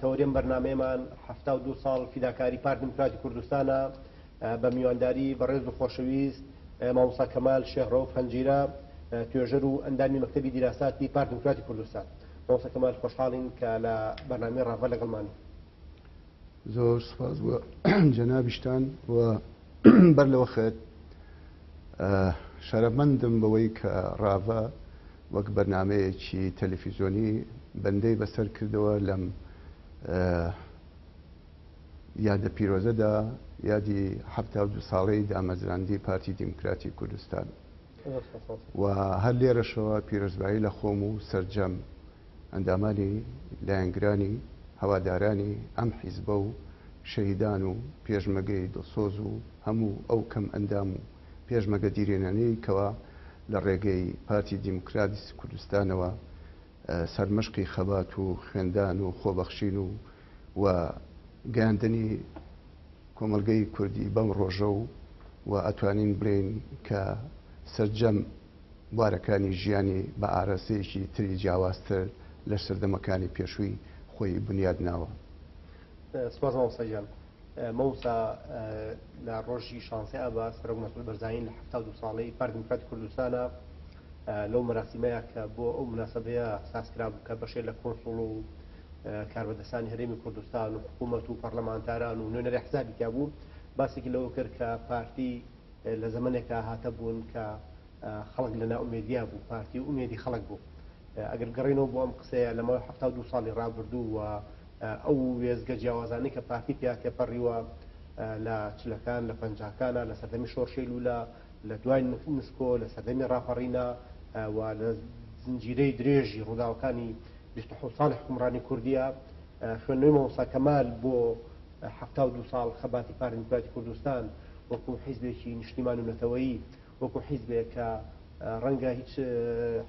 تەوەرێم بەرنامەیەمان حەفتا و دوو ساڵ فیداکاری پارت دیموکراتی کوردستانە بە میوانداری بەڕێز و خۆشەویست مامۆستا کەمال شێخ ڕەوف هەنجیرە توێژەر و ئەندامی مەکتەبی دیراساتی پارت دیموکراتی کوردستان مامۆستا کەمال خۆشحاڵین کە لە بەرنامەی ڕاڤە لەگەڵمانی زۆر سپاس بۆ جەنابیشتان و بەر لەوە خێت شەرەمەندم بەوەی کە ڕاڤە وەک بەرنمەیەکی تەلەفیزۆنی بەندەی بەسەر کردەوە لەم یادە پیرۆزەدا یادی ه دو ساڵەی دامەزراندی پارتی دیموکراتی کوردستان. و هەر لێرەشەوە پیرۆزبایی لە خۆم و سەرجەم ئەندامانی لایەنگرانی هەوادارانی ئەم حیزبە و شەهیدان و پێشمەگەی دڵسۆز و هەموو ئەو کەم ئەندام و پێشمەگە دیرێنانەی کەوا لە ڕێگەی پارتی دیموکراتیی کوردستانەوە سەرمشقی خەبات و خوێندان و خۆبەخشین و و گەیاندنی کۆمەڵگەی کوردی بەم ڕۆژە و و ئەتوانین بڵێین کە سەرجەم بوارەکانی ژیانی بە ئاراستەیەکی تری جیاوازتر لە سەردەمەکانی پێشووی خۆی بنیاد ناوە. سپاس مامۆستا گیان. مامۆستا لە ڕۆژی شانزەی ئابا سەرۆک مەسعود بەرزانی لە حەفتا و دوو ساڵەی پارتی دیموکراتی کوردستانە لەو مەراسیمەیە کە بۆ ئەو مناسبەیە ساز کرابوو کە بەشێ لە کۆنسوڵ و کاربەدەستانی هەرێمی کوردستان و حکوومەت و پەرلەمانتاران و نوێنەری حزابی تیا بوو باسێکی لەوە کرد کە پارتی لە زەمنێکا هاتە بوون کە خەڵک لە ناومێدیا بوو پارتی و ئومێدی خەڵک بوو ئەگەر گەڕینەوە بۆ ئەم قسەیە لەمەوە ه دوو ساڵی ڕابردوو و ئەو وێستگە جیاوازانەی کە پارتی پێیا تێپەڕیوە لە چلەکان، لە پەنجاکانا، لە سەردەمی شۆڕشی لوولە، لە دوای نسکۆ، لە سەردەمی ڕاپەڕینا و لە زنجیرەی درێژی ڕووداوەکانی بیست و حەوت ساڵی حوکمڕانی کوردیا، خوێندنەوەی مامۆستا کەمال بۆ حەفتا و دوو ساڵ خەباتی پارتی دیموکراتی کوردستان وەکوو حیزبێکی نیشتیمانی و نەتەوەیی وەکو حیزبێک کە ڕەنگە هیچ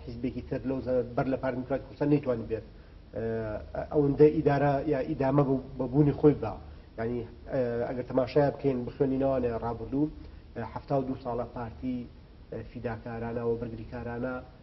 حیزبێکی تر لەو زەمەنە بەر لە پارتی دیموکراتی کوردستان نەیتوانیبێت ئەوەندە ئیدارە یا ئیدامە بە بوونی خۆی بدا. یانی ئەگەر تەماشای بکەین بخوێنینەوانێ ڕابردوو حەفتا و دوو ساڵە پارتی فیداکارانە و بەرگریکارانە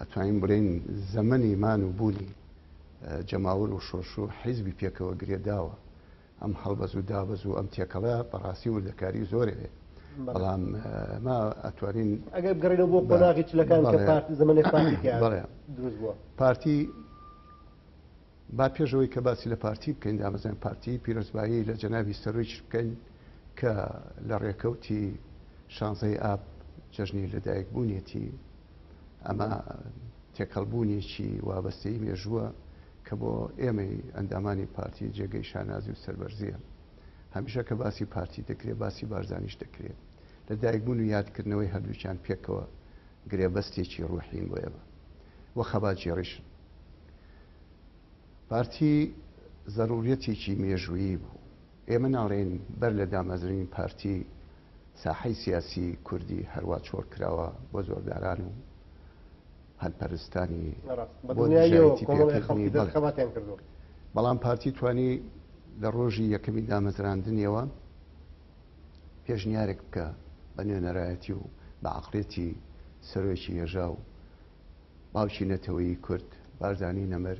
ئەتوانین بڵێین زەمەنی مان و بوونی جەماوەر و شۆرش و حیزبی پێکەوە گرێداوە ئەم هەڵبەز و دابەز و ئەم تێکەڵە بەڕاستی وردەکاری زۆرێ بەڵام ما ئەتوانین ئەگەر گەڕێنەوە بۆ قۆناغی چلەکان کە پارتی زەمەنی پارتی تیا بەڵێ دروست بووە پارتی با پێشەوەی کە باسی لە پارتی بکەین دامەزان پارتی پیرۆزبایی لە جەناوی سەرۆیچ بکەین کە لە ڕێکەوتی شانزەی ئاب جەژنی لەدایک بوونیەتی ئەمە تێکەڵبوونێکی وابەستەی مێژووە کە بۆ ئێمەی ئەندامانی پارتی جێگەی شانازی و سەربەرزیە هەمیشە کە باسی پارتی دەکرێت باسی بارزانیش دەکرێت لە دایکبوون و یادکردنەوەی هەردووچان پێکەوە گرێبەستێکی ڕوحین بۆ ئێمە و خەباتگێڕیشن پارتی زەرورەتێکی مێژوویی بوو ئێمە ناڵێین بەر لە دامەزرنی پارتی ساحەی سیاسی کوردی هەروا چۆڵ کراوە بۆ زۆرداران و هەلپەرستانی بۆ دژایەتی پێکردنی، بەڵام پارتی توانی لە ڕۆژی یەکەمی دامەزراندنیەوە پێشنیارێک بکە بە نوێنەرایەتی و بە عقلێتی سەرۆکی هێژا و باوکی نەتەوەی کورد بارزانی نەمر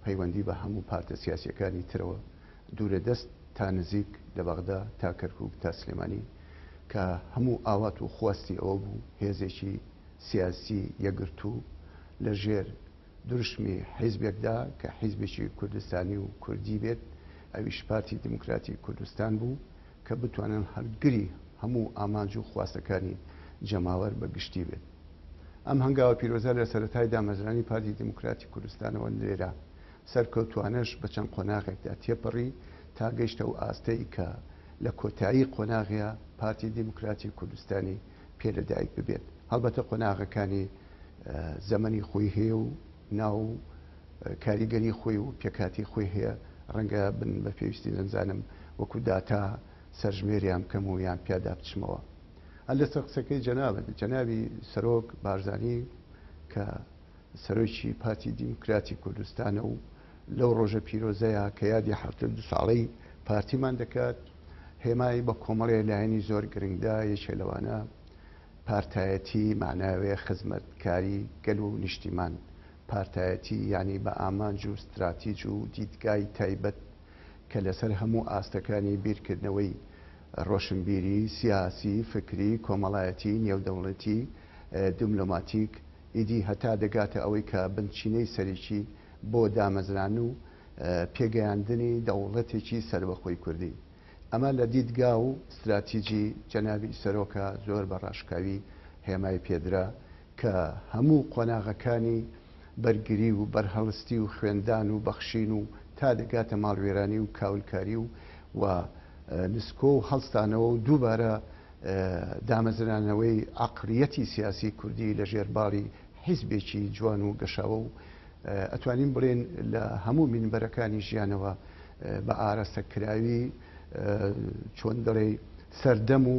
پەیوەندی بە هەموو پارتە سیاسیەکانی ترەوە دوورە دەست تا نزیک لە بەغدا تا کەرکوک تا سلێمانی کە هەموو ئاوات و خواستی ئەوە بوو هێزێکی سیاسی یەکگرتوو لە ژێر دروشمی حیزبێکدا کە حیزبێکی کوردستانی و کوردی بێت ئەویش پارتی دیموکراتی کوردستان بوو کە بتوانن هەلگری هەموو ئامانج و خواستەکانی جەماوەر بە گشتی بێت. ئەم هەنگاوە پیرۆزە لە سەرەتای دامەزرانی پارتی دیموکراتی کوردستانەوە لێرە سەرکەوتووانەش بە چەند قۆناغێکدا تێپەڕی تا گەیشتە ئەو ئاستەی کە لە کۆتایی قۆناغیا پارتی دیموکراتی کوردستانی پێ لە دایک ببێت هەڵبەتە قۆناغەکانی زەمەنی خۆی هەیە و ناو کاریگەری خۆی و پێکاتی خۆی هەیە ڕەنگە بن بە پێویستی نەمزانم وەکو داتا سەرژمێریان بکەم و یان پیادا بچمەوە هەر لەسەر قسەکەی جەنابت، جەنابی سەرۆک بارزانی کە سەرۆکی پارتی دیموکراتی کوردستانە و لەو ڕۆژە پیرۆزەیە کە یادی حەفتەو دوو ساڵەی پارتیمان دەکات، هێمای بە کۆمەڵێ لایەنی زۆر گرنگ دا، یەکێ لەوانە پارتایەتی مەعناوێ، خزمەتکاری گەل و نیشتیمان، پارتایەتی یانی بە ئامانج و ستراتیج و دیدگای تایبەت، کە لەسەر هەموو ئاستەکانی بیرکردنەوەی، ڕۆشنبیری، سیاسی، فکری، کۆمەڵایەتی، نێودەوڵەتی، دبلۆماتیک، ئیدی هەتا دەگاتە ئەوەی کە بنچینەی سەرەکی بۆ دامەزران و پێگەیاندنی دەوڵەتێکی سەربەخۆی کوردی. ئەمە لە دیدگا و ستراتیجی جەنابی سەرۆکە زۆر بە ڕاشکاوی هێمای پێدرا، کە هەموو قۆناغەکانی بەرگری و بەرهەڵستی و خوێندان و بەخشین و تا دەگاتە ماڵوێرانی و کاولکاری و و نسکۆ و هەڵستانەوە و دووبارە دامەزرانەوەی عەقڵیەتی سیاسی کوردی لە ژێر باڵی حیزبێکی جوان و گەشاوە و ئەتوانین بڵێن لە هەموو مینبەرەکانی ژیانەوە بە ئارەستە کراوی چۆن دەڵێی سەردەم و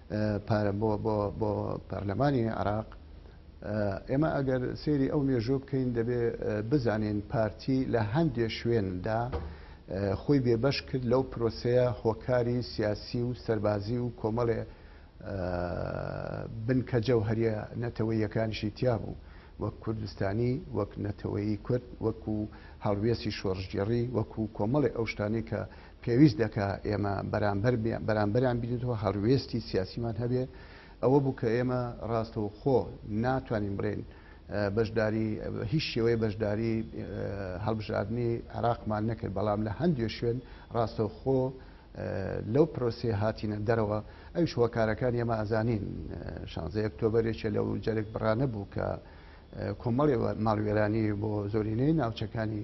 پارە بۆ بۆ بۆ پەرلەمانی عراق ئێمە ئەگەر سێری ئەو مێژوو بکەین دەبێ بزانین پارتی لە هەندێ شوێندا خۆی بێبەش کرد لەو پرۆسەیە هۆکاری سیاسی و سەربازی و کۆمەڵێ بنکە جەوهریە نەتەوەیەکانشی تیا بوو وەک کوردستانی وەک نەتەوەی کورد وەکو هەڵوێسی شۆڕژگێڕی وەکو کۆمەڵی ئەو شتانی کە پێویست دەکا ئێمە بەرامبەر بەرامبەریان بینێتەوە هەڕوێستی سیاسیمان هەبێ ئەوە بوو کە ئێمە ڕاستەوخۆ ناتوانین بڵێن بەشداری هیچ شێوەیە بەشداری هەڵبژاردننی عراقمان نەکرد بەڵام لە هەندێ شوێن ڕاستەوخۆ لەو پرۆسی هاتینە دەرەوە ئەوش هۆکارەکان ئێمە ئازانین شانزە ئۆکتۆبرێکە لەو جەرگ بڕانە بوو کە کۆمەڵێ ماڵوێرانی بۆ زۆرینەی ناوچەکانی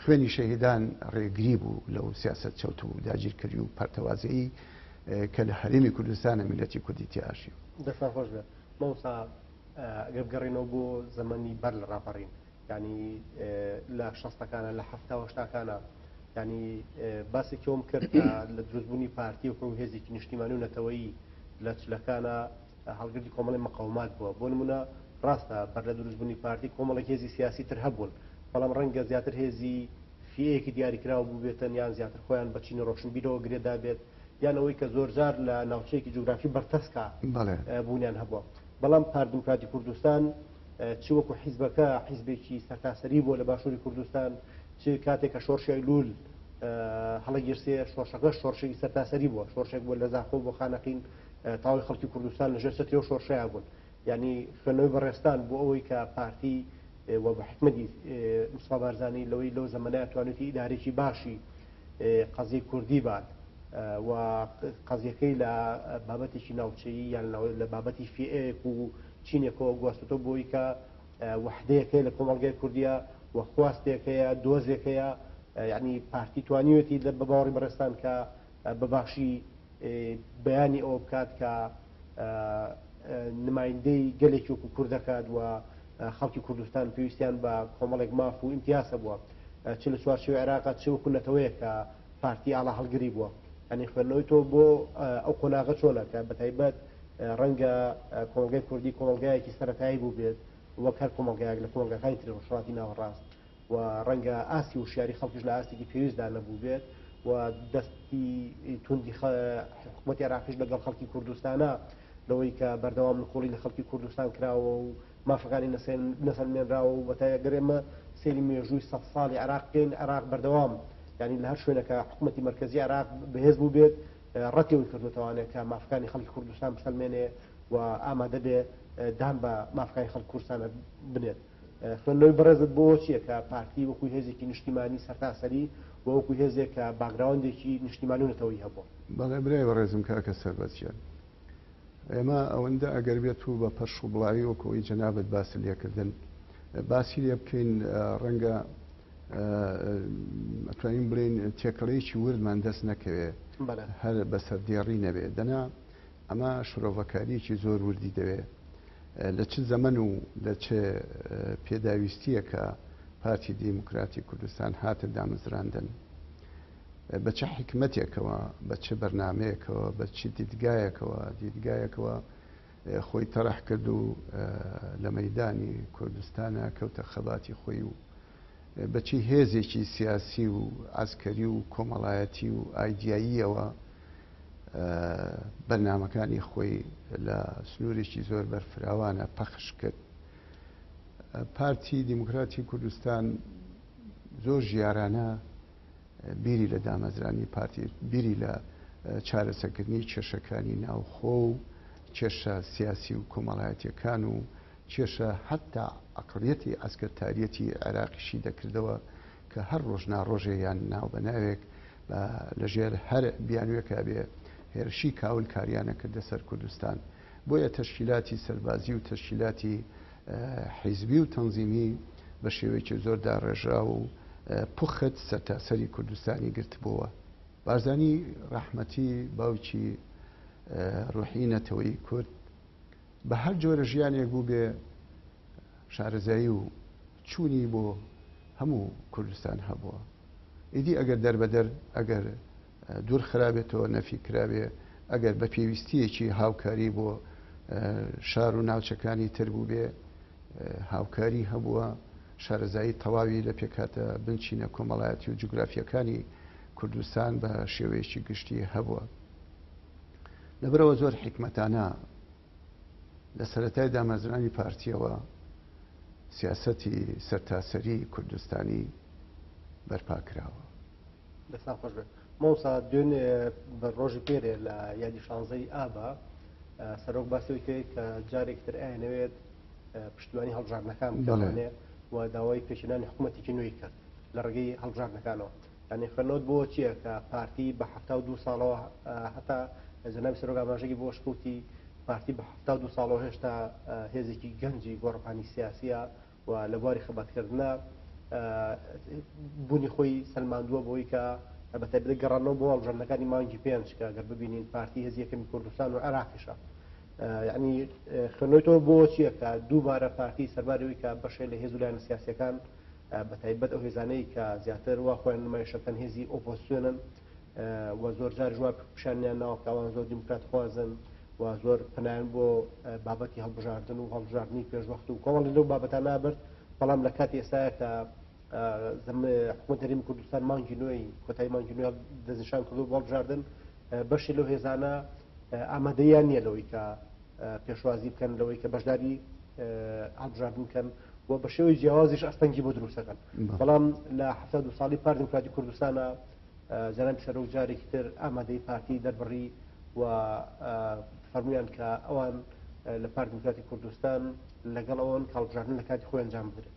خوێنی شەهیدان ڕێگری بوو لەو سیاسەت چەوت و داگیرکەری و پەرتەوازەیی کە لە هەرێمی کوردستانە میللەتی کوردی تێئاژی. دەستان خۆش بێت مامۆستا گەر بگەڕێینەوە بۆ زەمەنی بەر لە ڕاپەڕین یانی لە شەستەکانە لە حەفتا و هەشتاکانە یانی باسێکی ئەوم کرد لە دروستبوونی پارتی و هێزێکی نیشتیمانی و نەتەوەیی لە چلەکانە هەڵگری کۆمەڵی مقەومات بووە، بۆ نموونە ڕاستە بەر لە دروست بوونی پارتی کۆمەڵێک هێزی سیاسی تر هەبوون، بەڵام ڕەنگە زیاتر هێزی فییەیەکی دیاریکراو بووبێتن یان زیاتر خۆیان بە چینی ڕۆشنبیرەوە گرێ دابێت یان ئەوەی کە زۆرجار لە ناوچەیەکی جوگرافی بەرتەسکا بوونیان هەبووە. بەڵام پارت دیموکراتی کوردستان چ وەکوو حیزبەکە حیزبێکی سەرتاسەری بووە لە باشووری کوردستان چ کاتێک کە شۆڕشی ئەیلوول هەڵەگیرسێ شۆڕشەکەش شۆڕشێکی سەرتاسەری بووە، شۆڕشێک بووە لە زاخۆ بۆ خانەقین، تەواوی خەڵکی کوردستان لە ژێر چەتری ئەو شۆڕشەیا بوون یعنی خوێندنەوەی بەڕێزتان بۆ ئەوەی کە پارتی و بە حکمەتی مستفا بارزانانی لەوەی لەو زەمەنەیە توانێتی ئیدارێکی باشی قەزی کوردی بات و قەزیەکەی لە بابەتێکی ناوچەیی یان لە بابەتی فێک و چینێکەوە گواستۆ بۆی کە وحدەیەکەی لە کۆمەلگای کوردیا و خواستێکەیە دۆزێکەیە یعنی پارتی توانیوێتی لە بە باوەڕی بەڕێستان کە بە باشی بەیانی ئەوە بکات کە نمایندەی گەلێکی وەکو کورد دەکات و خەڵکی کوردستان پێویستیان بە کۆمەڵێک ماف و ئیمتیاز هەبووە چ لە چوارچێوەی عێراق چ وەکو نەتەوەیە کە پارتی ئاڵا هەڵگری بووە ئەنی خوێندنەوەی تۆ بۆ ئەو قۆناغە چۆنە کە بە تایبەت ڕەنگە کۆمەڵگای کوردی کۆمەڵگایەکی سەتایی بوو بێت وەک هەر کۆمەڵگایەک لە کۆمەڵگەکانی تری ڕۆژهەڵاتی ناوەڕاست و ڕەنگە ئاستی وشیاری خەڵکیش لە ئاستێکی پێویستدا نەبووبێت و دەستی توندی حکوومەتی عراقیش لەگەڵ خەڵکی کوردستانە لەوەی کە بەردەوام نکۆڵی لە خەڵکی کوردستان کراوە و مافەکانی نەسەلمێنراوە و بەتای گەرێمە سێری مێژووی سە ساڵی عراق بکەین عراق بەردەوام ینی لە هەر شوێنەکە حکوومەتی مرکزی عراق بەهێز بوو بێت ڕەتیەوەی کردوتوانێت کە مافەکانی خەڵکی کوردستان بسەلمێنێ و ئامادە بێ دان بە مافەکانی خەڵک کوردستانە بنێت خوێندنەوەی بەڕێزت بۆ چییە کە پارتی وەکو هێزێکی نیشتیمانی سەرتاسەری و وەکو هێزێک کە باکگراوندێکی نیشتیمانی و نەتەوەیی هەبووە؟ بەڵێ برای بەڕێزم کاکە سەربەست گیان، ئێمە ئەوەندە ئەگەر بێت و بە پەرش و بڵاوی وەکو ئەوەی جەنابت باست لێکردن باسی لێ بکەین ڕەنگە ئەتوانین بڵێین تێکەڵەیەکی وردمان دەست نەکەوێ هەر بەسەر دێڕی نەبێ دەنا ئەمە شرۆڤەکارییەکی زۆر وردی دەوێ لە چ زەمەن و لە چ پێداویستییەکە پارتی دیموکراتی کوردستان هاتە دامەزراندن، بە چ حیکمەتێکەوە، بە چ بەرنامەیەکەوە، بە چ دیدگایەکەوە دیدگایەکەوە خۆی تەڕح کرد و لە مەیدانی کوردستانا کەوتە خەباتی خۆی و بە چی هێزێکی سیاسی و عەسکەری و کۆمەڵایەتی و ئایدیاییەوە بەرنامەکانی خۆی لە سنوورێکی زۆر بەرفراوانە پەخش کرد پارتی دیموکراتی کوردستان زۆر ژیارانە بیری لە دامەزرانی پارتی بیری لە چارەسەکردنی کێشەکانی ناوخۆ و کێشە سیاسی و کۆمەڵایەتەکان و کێشە هەتا عەقڵیەتی عەسکەرتاریەتی عێراقی شی دەکردەوە کە هەر ڕۆژ ناڕۆژێ یان ناو بە ناوێک با لە ژێر هەر بیانوێکا بێ هێرشی کاول کاریان ئەکردە سەر کوردستان بۆیە تەشکیلاتی سەربازی و تەشکیلاتی حیزبی و تەنزیمی بە شێوەیەکی زۆر داڕێژراو و پوخت سەرتاسەری کوردستانی گرتبۆوە بارزانی ڕەحمەتی باوکی ڕوحی نەتەوەی کورد بە هەر جۆرە ژیانێک بوو بێ شارەزایی و چوونی بۆ هەموو کوردستان هەبووە ئیدی ئەگەر دەربەدەر ئەگەر دوور خرابێتەوە نەفی کراوێ ئەگەر بە پێویستیەکی هاوکاری بۆ شار و ناوچەکانی تر بوو بێ هاوکاری هەبووە شارەزایی تەواوی لە پێکاتە بنچینە کۆمەڵایەتی و جوگرافیەکانی کوردستان بە شێوەیەکی گشتی هەبووە. لەبەرئەوە زۆر حیکمەتانە لە سەرەتای دامەزرانی پارتیەوە سیاسەتی سەرتاسەری کوردستانی بەرپا کراوە دەستان خۆش بێت مۆسا دوێنێ بە ڕۆژی پێرێ لە یادی شانزەی ئابا سەرۆک باسەوەی کرێت کە جارێک تر ئاەوێت پشتیوانی هەڵبژاردنەکان بڵێ و داوای پێشێنانی حکوومەتێکی نوێی کرد لە ڕێگەی هەڵبژاردنەکانەوە یانی فەرنۆت بۆ چیە کە پارتی بە حەفتا و دوو ساڵەوە هەتا جەنابی سەرۆک ئاماژەگی بۆ شکوتی پارتی بە حەفتا و دوو ساڵەوە هێشتا هێزێکی گەنجی گۆڕپانی سیاسیە و لە بواری خەباتکردە بوونی خۆی سلماندووە بۆی کە بە تایبەت گەڕانەوە بۆ هەڵبژاردنەکانی مانگی پێنج کە گەر ببینین پارتی هێز یەکەمی کوردستان و عێراقیشە یعنی خوێنەوەی تۆ بۆ چییە کە دووبارە پارتی سەرباری ئەوی کە بەشێ لە هێز و لایەنە سیاسەکان بە تایبەت ئەو هێزانەی کە زیاتر وا خۆیان نمایش ئەکەن هێزی ئۆپۆزسیۆنن و زۆر جاریش وا پیشانیان ناوە کە ئەوان زۆر دیموکراتخوازن و زۆر پنایان بۆ بابەتی هەڵبژاردن و هەڵبژاردننی پێشوەخت و کۆمەڵی لەو بابەتان نابرد بەڵام لە کاتی ئێستاە کە حکومە دەریم کوردستان مانگی نوێی کۆتای مانگی نوێ دەستنیشان کردو بۆڵبژاردن بەشی لەو هێزانە ئامادەیان نییە لەوەی کە پێشوازی بکەن لەوەی کە بەشداری هەڵبژاردن بکەن و بە شێوەی جیاوازیش ئەستەنگی بۆ دروستەکەن بەڵام لە هەفتا دو ساڵی پار دموکراتی کوردستانە جەناب سەرۆک جارێکی تر ئامادەی پارتی دەربڕی و فەرمویان کە ئەوان لە پار دموکراتی کوردستان لەگەڵ ئەوان کاڵبژاردن لە کاتی خۆیان جام بدرێت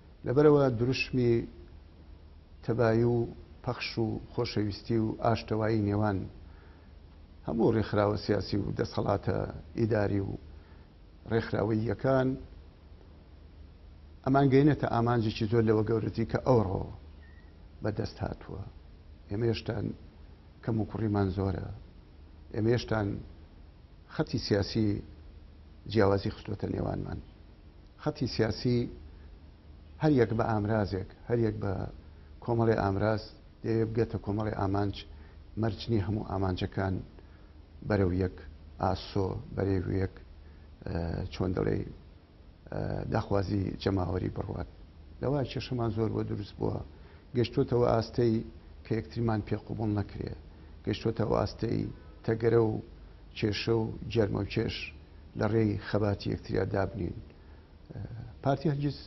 لەبەرئەوە دروشمی تەبایی و پەخش و خۆشەویستی و ئاشتەوایی نێوان هەموو ڕێکخراوە سیاسی و دەسەڵاتە ئیداری و ڕێکخراوەییەکان ئەمان گەینەتە ئامانجێکی زۆر لەوە گەورەتی کە ئەوڕۆ بەدەست هاتووە ئێمە هێشتان کەم و کوڕیمان زۆرە ئێمە هێشتان خەتی سیاسی جیاوازی خستوەتە نێوانمان خەتی سیاسی هەر یەک بە ئامرازێک، هەر یەک بە کۆمەڵێ ئامراز دەیەوێ بگاتە کۆمەڵێ ئامانج، مەرج نییە هەموو ئامانجەکان بەرەو یەک ئاسۆ، بەرەو یەک چۆن دەڵێی داخوازی جەماوەری بڕوات. لەوە کێشەمان زۆر بۆ دروست بووە. گەشتووەتە ئەو ئاستەی کە یەکتریمان پێ قبوڵ نەکرێ. گەشتووەتە ئەو ئاستەی تەگەرە و کێشە و گێرمەوکێش لە ڕێی خەباتی یەکتریا دابنێین. پارتی هەرگیز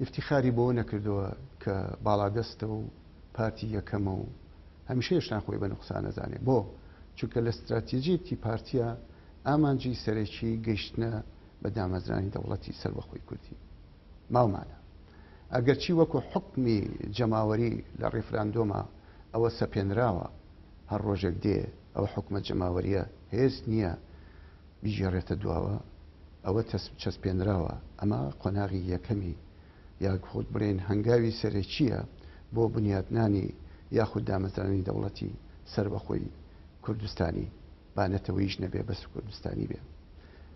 ئیفتیخاری بەوە نەکردووە کە باڵادەستە و پارتی یەکەمە و هەمیشە هێشتان خۆی بە نوقسان ئەزانێ. بۆ؟ چونکە لە ستراتیجیەتی پارتیا ئامانجی سەرەکی گەیشتنە بە دامەزرانی دەوڵەتی سەربەخۆی کوردی. ماومانە. ئەگەرچی وەکو حوکمی جەماوەری لە ڕیفراندۆما ئەوە سەپێنراوە. هەر ڕۆژێک دێ ئەو حوکمە جەماوەریە هێز نیە بیگێڕێتە دواوە، ئەوە تەسپ چەسپێنراوە، ئەمە قۆناغی یەکەمی یاخود بڵێین هەنگاوی سەرەکیە بۆ بنیاتنانی یاخود دامەزرانی دەوڵەتی سەربەخۆی کوردستانی با نەتەوەیش نەبێ بەس کوردستانی بێ.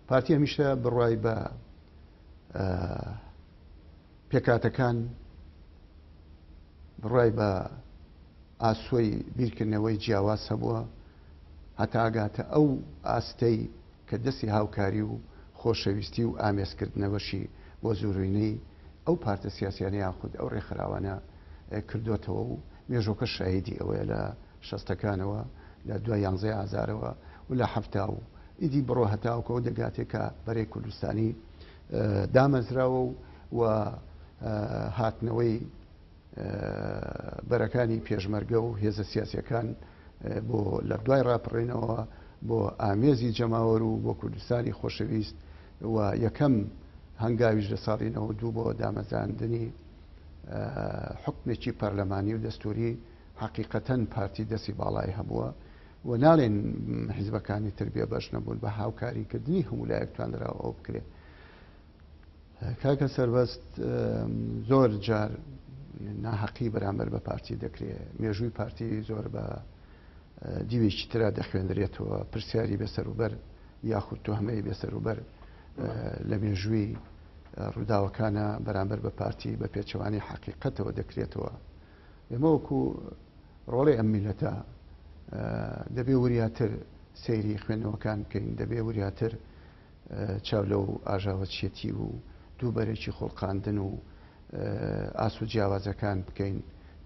پارتی هەمیشە بڕوای بە پێکهاتەکان بڕای بە ئاسۆی بیرکردنەوەی جیاواز هەبووە هەتا ئەگاتە ئەو ئاستەی کە دەستی هاوکاری و خۆشەویستی و ئامێزکردنەوەشی بۆ زۆرینەی ئەو پارتە سیاسیانە یاخود ئەو ڕێکخراوانە کردۆتەوە و مێژۆکە شاهیدی ئەوەیە لە شەستەکانەوە لە دوای یانزەی ئازارەوە و لە حەفتا و ئیدی بڕۆ هەتاوکەوە دەگاتێ کە بەرەی کوردستانی دامەزراوە و و هاتنەوەی بەرەکانی پێشمەرگە و هێزە سیاسەکان بۆ لە دوای ڕاپڕێنەوە بۆ ئامێزی جەماوەر و بۆ کوردستانی خۆشەویست و یەکەم هەنگاویش لە ساڵی نەوە دوو بۆ دامەزاندنی حکمێکی پەرلەمانی و دەستوری حقیقەتەن پارتی دەستی باڵای هەبووە و ناڵێین حیزبەکانی تر بێ بەش نەبوون بە هاوکاری کردنی هەموو لایەک توانراوە ئەوە بکرێت کاکە سربەست زۆر جار ناحەقی بەرامبەر بە پارتی دەکرێت مێژووی پارتی زۆر بە دیوێکی تررا دەخوێندرێتەوە پرسیاری بەسەروبەر یاخود تۆ هەمەی بێسەروبەر لە مێژووی ڕووداوەکانە بەرامبەر بە پارتی بە پێچەوانی حقیقەتەوە دەکرێتەوە ئێمە وەکو ڕۆڵەی ئەم میللەتە دەبێ وریاتر سەیری خوێندنەوەکان بکەین، دەبێ وریاتر چاو لەو ئاژاوەچیەتی و دووبەرەکی خوڵقاندن و ئاست و جیاوازەکان بکەین،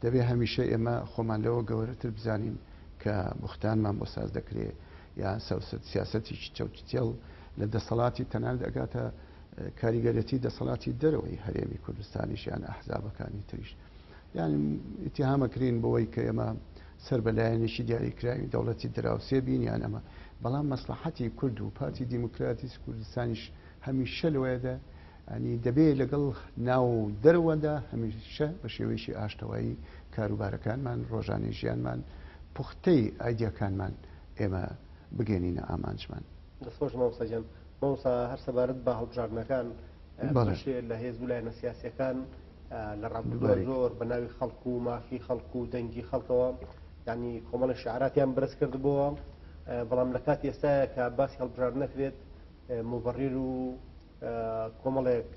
دەبێ هەمیشە ئێمە خۆمان لەوە گەوەرەتر بزانین کە بوختانمان بۆ ساز دەکرێ یا سیاسەتیکی چەوتوتێڵ لە دەسەڵاتی تەنانەت ئەگاتە کاریگەرێتی دەسەڵاتی دەرەوەی هەرێمی کوردستانیش یان ئەحزابەکانی تریش. یعنی ئتیهامەکرین بەوەی کە ئێمە سەر بە لایەنێکی دیاریکراوی دەوڵەتی دراوسێ بین یان ئەمە بەڵام مەسلحەتی کورد و پارتی دیموکراتیس کوردستانیش هەمیشە لەوەیەدا ئەنی دەبێت لەگەڵ ناو دەروەدا هەمیشە بە شێوەیەکی ئاشتەوایی کاروبارەکانمان ڕۆژانی ژیانمان پوختەی ئایدیاکانمان ئێمە بگەێنینە ئامانجمان دەستخۆش مامۆساجان مامۆسا هەر سەبارەت بە هەڵبژاردنەکان بەشێ لە هێز و لایەنە سیاسەکان لە ڕابردوودا زۆر بە ناوی خەڵک و مافی خەڵک و دەنگی خەڵکەوە ینی کۆمەڵی شعراتیان برز کردبووە بەڵام لە کاتی ئێستاە کە باسی هەڵبژار نەکرێت مبڕیر و کۆمەڵێک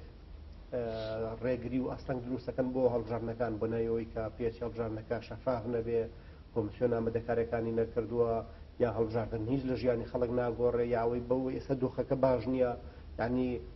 ڕێگری و ئەستەنگ دروستەکەن بۆ هەڵبژارنەکان بۆ نایەوەی کە پێچ هەڵبژارنەکە شەفاف نەبێ کۆمسیۆن ئامادەکارەکانی نەکردووە یا هەڵبژاردن هیچ لە ژیانی خەڵک ناگۆڕێ یاوەی بەوە ئێستا دۆخەکە باش نییە ینی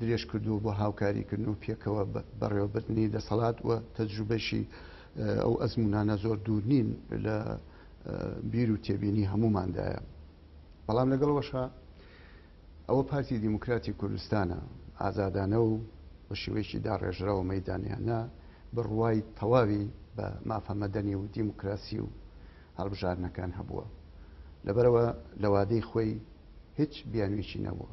درێژکردووە بۆ هاوکاریکردن و پێکەوە بەڕێوەبردنی دەسەڵات و تەجروبەیشی ئەو ئەزموونانە زۆر دوور نین لە بیر و تێبینی هەمووماندایە بەڵام لەگەڵەوەشە ئەوە پارتی دیموکراتی کوردستانە ئازادانە و بە شێوەیەکی داڕێژراوە مەدانیانە بڕوای تەواوی بە مافە مەدەنی و دیموکراسی و هەڵبژارنەکان هەبووە لەبەرەوە لەوادەی خۆی هیچ بیانوێکی نەبووە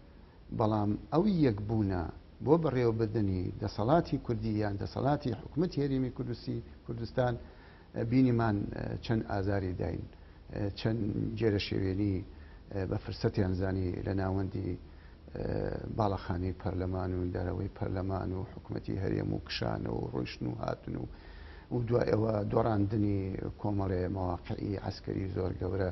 بەڵام ئەو یەک بوونە بۆ بەڕێوەبردنی دەسەڵاتی کوردی یان دەسەڵاتی حکومەتی هەرێمی کوردستی کوردستان بینیمان چەند ئازاری داین چەند جێرە شێوێنی بە فرسەتیان زانی لە ناوەندی باڵەخانی پەرلەمان و دەرەوەی پەرلەمان و حکومەتی هەرێم و کشانە و ڕۆیشتن و هاتن و و دوای ئەوە دۆڕاندنی کۆمەڵێ مەواقعی عسکەری زۆر گەورە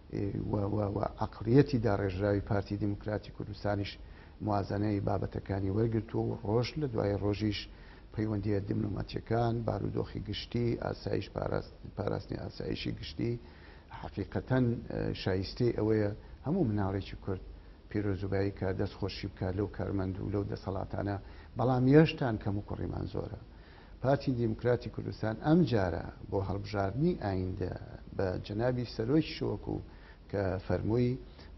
و عەقڵیەتی داڕێژراوی پارتی دیموکراتی کوردستانیش موازەنەی بابەتەکانی وەرگرتووە و ڕۆژ لە دوای ڕۆژیش پەیوەندییە دبلۆماتییەکان، بارودۆخی گشتی، ئاسایش، پاراستنی ئاسایشی گشتی حەقیقەتەن شایستەی ئەوەیە هەموو مناڵێکی کورد پیرۆزوبایی کات دەست خۆشی بکات لەو کارمەند و لەو دەسەڵاتانە، بەڵام یەشتان کەموکوڕیمان زۆرە. پارتی دیموکراتی کوردستان ئەم جارە بۆ هەڵبژاردنی ئایندە بە جەنابی سەرۆکیشەوە کو کە فەرمووی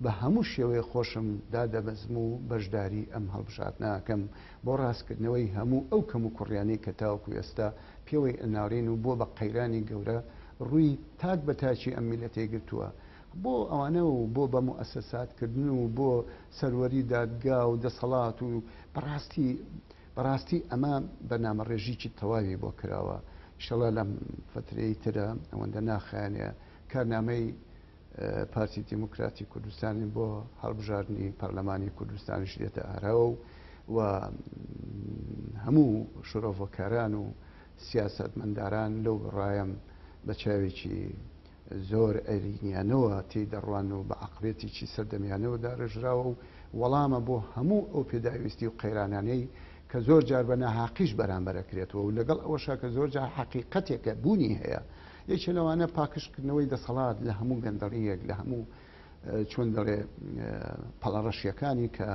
بە هەموو شێوەیەک خۆشم دادەبەزم و بەشداری ئەم هەڵبژاردنە ئەکەم بۆ ڕاستکردنەوەی هەموو ئەو کەموکوڕیانەی کە تاوەکو ئێستا پێوەی ئەناڵێن و بۆ بە قەیرانی گەورە ڕووی تاک بە تاکی ئەم میللەتەی گرتووە بۆ ئەوانە و بۆ بە موئەسەسات کردن و بۆ سەروەری دادگا و دەسەڵات و بەڕاستی بەڕاستی ئەمە بەرنامە ڕێژیکی تەواوی بۆ کراوە ئیشەڵا لەم فەترەی ترە ئەوەندە ناخایەنێ کارنامەی پارتی دیموکراتی کوردستانی بۆ هەڵبژاردنی پەرلەمانی کوردستانیش دێتە ئاراوە و و هەموو شرۆڤەکاران و سیاستمەنداران لەو ڕایم بە چاوێکی زۆر ئەرینیانەوە تێی دەڕوان و بە عەقڵیەتێکی سەردەمیانەوە دارێژراوە و وەڵامە بۆ هەموو ئەو پێداویستی و قەیرانانەی کە زۆر جار بە ناهەقیش بەرامبەر ئەکرێتەوە و لەگەڵ ئەوەشا کە زۆر جار حەقیقەتێکە بوونی هەیە یەکێ لەوانە پاکژکردنەوەی دەسەڵات لە هەموو گەندەڵییەک لە هەموو چۆن دەڵێ پەڵەڕەشیەکانی کە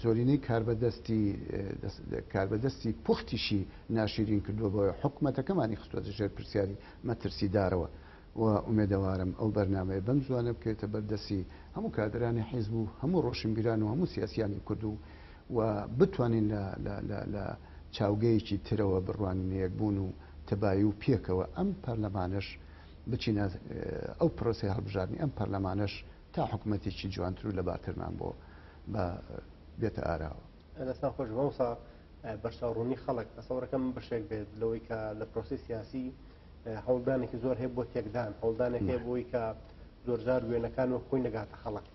زۆرینەی کاربەدەستی کاربەدەستی پوختیشی ناشیرین کردووە بۆیە حکومەتەکەمانی خستوەتە ژێر پرسیاری مەترسیدارەوە و ئومێدەوارم ئەو بەرنامەیە بەم زووانە بکەوێتە بەر دەستی هەموو کادرانی حیزب و هەموو ڕۆشنبیران و هەموو سیاسیانی کورد و و بتوانین لە لە لە لە چاوگەیەکی ترەوە بڕوانینە یەکبوون و تەبایی و پێکەوە ئەم پەرلەمانەش بچینە ئەو پرۆسەی هەڵبژاردنی ئەم پەرلەمانەش تا حکومەتێکی جوانتر و لەبارترمان بۆ بە بێتە ئاراوە. دەستان خۆش مامۆستا بەرچاو ڕوونی خەڵک تەسەوڕەکە من بەشێک بێت لەوەی کە لە پرۆسی سیاسی هەوڵدانێکی زۆر هەیە بۆ تێکدان هەوڵدانێک هەیە بۆی کە زۆرجار وێنەکان و خۆی نەگاتە خەڵک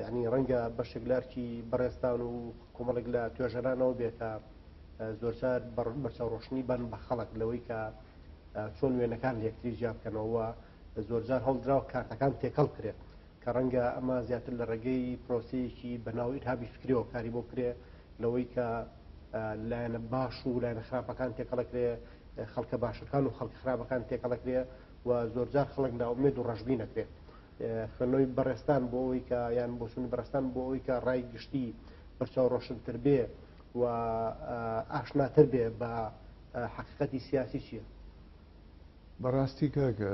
یعنی ڕەنگە بەشێک لارکی بەڕێستان و کۆمەڵێک لە توێژەرانەوە بێ کە زۆرجار بەرچاو ڕۆشنی بن بە خەڵک لەوەی کە چۆن وێنەکان لەکتری جیا بکەنەوە زۆرجار هەڵدراوە کارتەکان تێکەڵ کرێت کە ڕەنگە ئەمە زیاتر لە ڕێگەی پرۆسەیەکی بە ناو ئیرهابی فکریەوە کاری بۆ بکرێ لەوەی کە لایەنە باش و لایەنە خراپەکان تێکەڵەکرێ خەڵکە باشەکان و خەڵک خراپەکان تێکەڵەکرێ و زۆرجار خەڵک ناومێد و ڕژبی نەکرێت خوێنەوەی بەڕێستان بۆ ئەوی کە یان بۆچوونی بەڕستان بۆ ئەوی کە ڕای گشتی پرچاو ڕۆشنتر بێ و ئاشناتر بێ بە حقیقەتی سیاسی چییە؟ بەڕاستی کاکە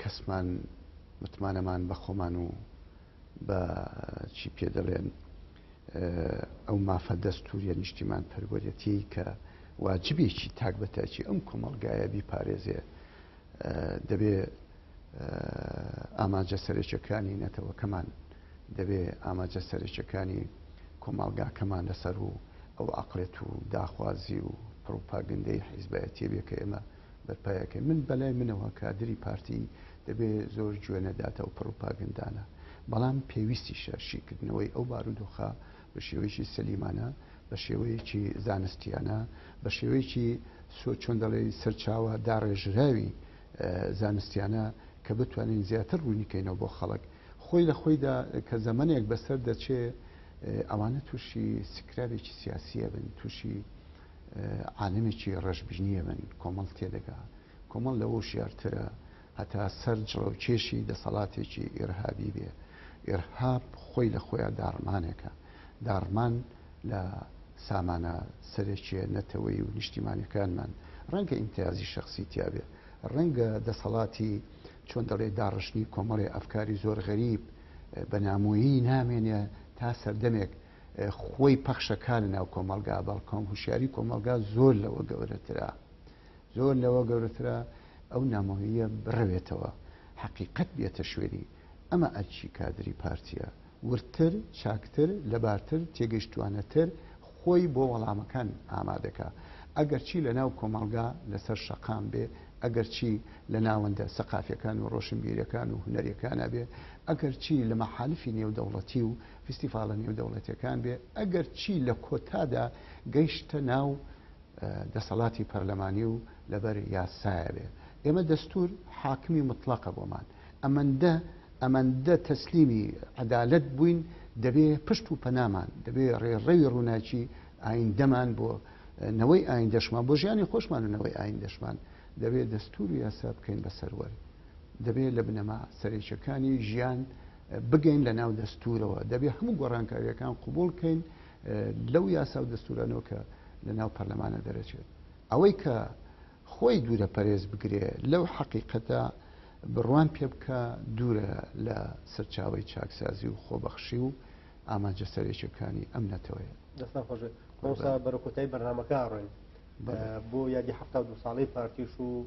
کەسمان متمانەمان بە خۆمان و بە چی پێ دەڵێن ئەو مافە دەستوریە نیشتیمان پەروەەتی کە واجبێکی تاک بە تاکی ئەم کۆمەلگایە بیپارێزێ دەبێ ئاماجە سەرێکەکانی نەتەوەکەمان دەبێ ئاماجە سەرێکەکانی کۆمەلگاکەمان لەسەر و ئەو عقلێت و داخوازی و پڕوپاگەندەی حیزبایەتیە بێ کە ئێمە بەرپایەکەی من بەلای منەوە کادری پارتی دەبێ زۆر گوێ نەداتە و پڕوپاگەندانە بەڵام پێویستی شەرشیکردنەوەی ئەو بارودۆخە بە شێوەیەکی سەلیمانە بە شێوەیەکی زانستیانە بە شێوەیەکی سۆ چۆن دەڵێ سەرچاوە داڕێژراوی زانستیانە کە بتوانین زیاتر ڕوونیکەینەوە بۆ خەڵک خۆی لە خۆیدا کە زەمنێک بەسەر دەچێ ئەوانە تووشی سکرابێکی سیاسیە بن تووشی عالمێکی ڕەشبینی یەمەن کۆمەڵ تێدەگا، کۆمەڵ لەوە وشیارترە هەتا سەر جڵەوکێشی دەسەڵاتێکی ئیرهابی بێ، ئیرهاب خۆی لە خۆیا داڕمانێکە، داڕمان لە سامانە سەرەکیە نەتەوەیی و نیشتیمانیەکانمان، ڕەنگە ئیمتیازی شەخسی تیا بێ، ڕەنگە دەسەڵاتی چۆن دەڵێ داڕشتنی کۆمەڵێ ئەفکاری زۆر غەریب بە نامۆیی نامێنێ تا سەردەمێک، خۆی پەخشە کا لە ناو کۆمەڵگا بەڵکۆم هوشیاری کۆمەڵگا زۆر لەوە گەورەترە زۆر لەوە گەورەترە ئەو نامۆیە بڕەوێتەوە حەقیقت بێتە شوێنی ئەمە ئەرچی کادری پارتیە وردتر چاکتر لەبارتر تێگەشتوانەتر خۆی بۆ وەڵامەکان ئامادەکە ئەگەرچی لە ناو کۆمەڵگا لەسەر شەقام بێ ئەگەرچی لە ناوەندە سەقافەکان و ڕۆشنبیرەکان و هوەرەکانە بێ ئەگەرچی لە مەحالفی نێودەوڵەتی و فیستیڤاڵە نێودەوڵەتیەکان بێ ئەگەر چی لە کۆتادا گەیشتە ناو دەسەڵاتی پەرلەمانی و لەبەر یاسایە بێ ئێمە دەستور حاکمی مطلقە بۆمان ئەمەندە ئەمەندە تەسلیمی عەدالەت بووین دەبێ پشت و پەنامان دەبێ ڕێڕەوی ڕووناکی ئایندەمان بۆ نەوەی ئاین دەشمان بۆ ژیانی خۆشمان و نەوەی ئاین دەشمان دەبێت دەستور و یاسا بکەین بە سەروەر دەبێت لە بنەما سەرێکەکانی ژیان بگەین لە ناو دەستورەوە دەبێ هەموو گۆڕانکاریەکان قوبول کەین لەو یاسا و دەستورانەوە کە لە ناو پەرلەمانە دەرەچێت ئەوەی کە خۆی دوورە پەرێز بگرێ لەو حەقیقەتە بڕوان پێ بکە دوورە لە سەرچاوی چاکسازی و خۆبەخشی و ئامانجە سەرێکەکانی ئەم نەتەوەیە دەستان خۆش بەرەکوتای بەرنمەکە ڕۆین بۆ یادی ه دو ساڵی پارتیش و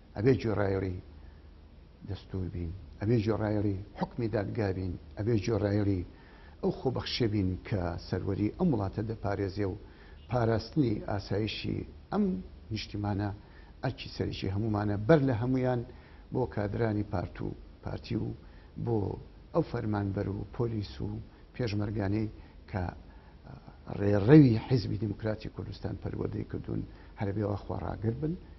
ئەبێ گوێڕایەڵی دەستوور بین، ئەبێ گوێڕایەڵی حوکمی دادگا بین، ئەبێ گوێڕایەڵی ئەو خۆبەخشییە بین کە سەروەری ئەم وڵاتە دەپارێزێ و پاراستنی ئاسایشی ئەم نیشتیمانە ئەرکی سەرەکی هەموومانە، بەر لە هەموویان بۆ کادرانی پارت و پارتی و بۆ ئەو فەرمانبەر و پۆلیس و پێشمەرگانەی کە ڕێڕەوی حیزبی دێموکراتی کوردستان پەروەردەی کردوون، هەربێ وا خواڕاگربن.